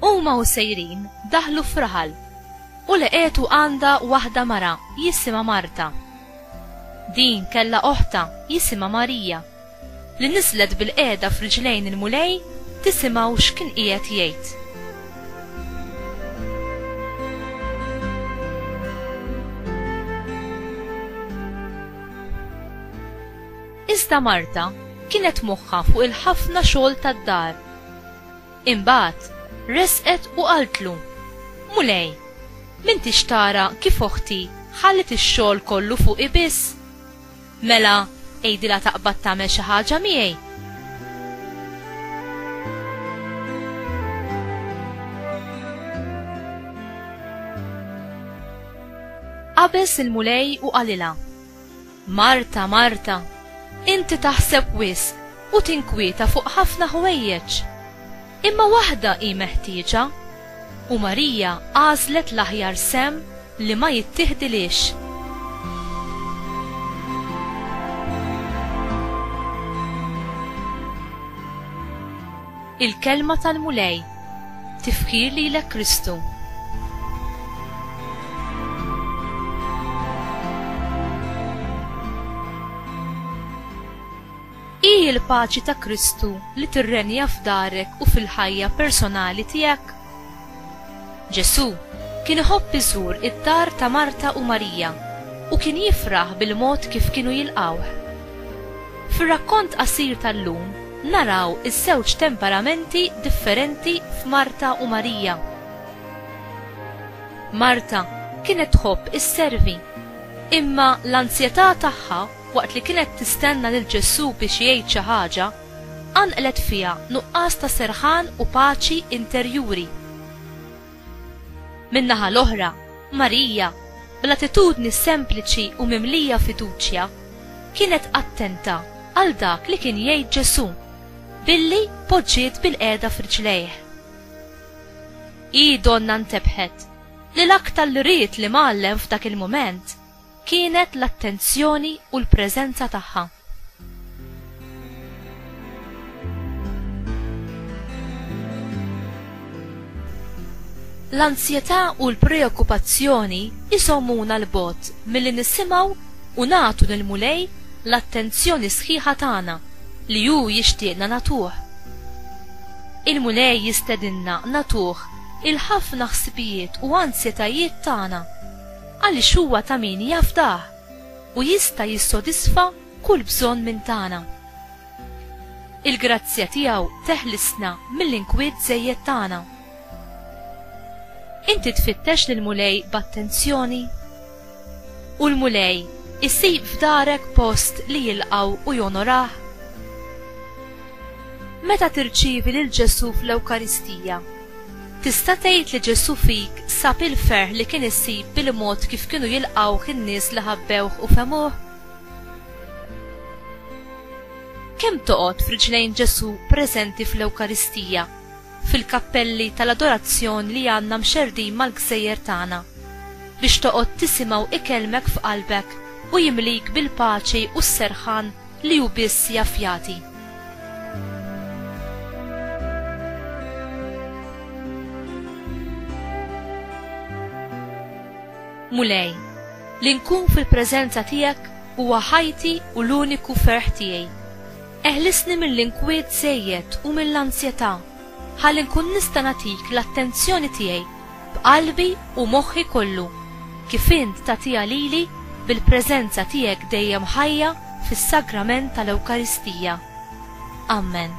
Huma u sejrin daħlu f'raħal u leqetu għandha waħda mara jisimha Marta. Din kellha oħta jisimha Marija li niżlet bil-qiegħda f'riġlejn il-Mulej tisimgħu x'kien qiegħed jgħid. Iżda Marta kienet moħħa fuq il-ħafna xogħol tad-dar Imbagħad resqet u qaltlu, Mulej, m'intix tara kif oħti ħalliet ix-xogħol kollu fuqi biss? Mela għidilha taqbad tagħmel xi ħaġa miegħi. Qabeż il-Mulej u qalilha, Marta, Marta, inti taħseb wisq u tinkwieta fuq ħafna ħwejjeġ. Imma waħda hi meħtieġa, u Marija għażlet l-aħjar sehem li ma jittieħdilhiex. Il-Kelma tal-Mulej. Tifħir lilek Kristu. Hi l-paċi ta' Kristu li tirrenja f'darek u fil-ħajja personali tiegħek? Ġesù kien iħobb iżur id-dar ta' Marta u Marija u kien jifraħ bil-mod kif kienu jilqgħuh. Fir-rakkont qasir tal-lum naraw iż-żewġ temperamenti differenti f'Marta u Marija. Marta kienet tħobb isservi, imma l-anzjetà tagħha waqt li kienet tistenna lil Ġesù biex jgħid xi ħaġa, qanqlet fiha nuqqas ta' serħan u paċi interjuri. Min-naħa l-oħra, Marija, bl-attitudni sempliċi u mimlija fiduċja, kienet attenta għal dak li kien jgħid Ġesù billi poġġiet bilqiegħda f'riġlejh. Hi donnha ntebħet li l-aktar li ried l-Imgħallem f'dak il-mument kienet l-attenzjoni u l-preżenza tagħha. L-anzjetà u l-preokkupazzjoni jżommuna 'l bogħod milli nisimgħu u nagħtu lill-Mulej l-attenzjoni sħiħa tagħna li hu jixtieqna nagħtuh. Il-Mulej jistedinna nagħtuh il-ħafna ħsibijiet u anzjetajiet tagħna. Għaliex huwa ta' min jafdah u jista' jissodisfa kull bżonn minn tagħna. Il-grazzja tiegħu teħlisna mill-inkwiet żejjed tagħna. Inti tfittex lill-Mulej b'attenzjoni? U l-Mulej isib f'darek post li jilqgħu u jonorah? Meta tirċievi lil Ġesù fl-Ewkaristija, Tista' tgħid li Ġesù fik sab il-ferħ li kien isib bil-mod kif kienu jilqgħuh in-nies li ħabbewh u fehmuh? Kemm toqgħod f'riġlejn Ġesù preżenti fl-Ewkaristija, fil-kappelli tal-adorazzjon li għandna mxerrdin mal-gżejjer tagħna, biex toqgħod tisimgħu ikellmek f'qalbek u jimlik bil-paċi u s-serħan li hu biss jaf jagħti. Mulej, li nkun fil-preżenza tiegħek huwa ħajti u l-uniku ferħ tiegħi. Eħlisni mill-inkwiet żejjed u mill-anzjetà ħalli nkun nista' nagħtik l-attenzjoni tiegħi b'qalbi u moħħi kollu, kif int tagħtiha lili bil-preżenza tiegħek dejjem ħajja fis-Sagrament tal-Ewkaristija. Ammen.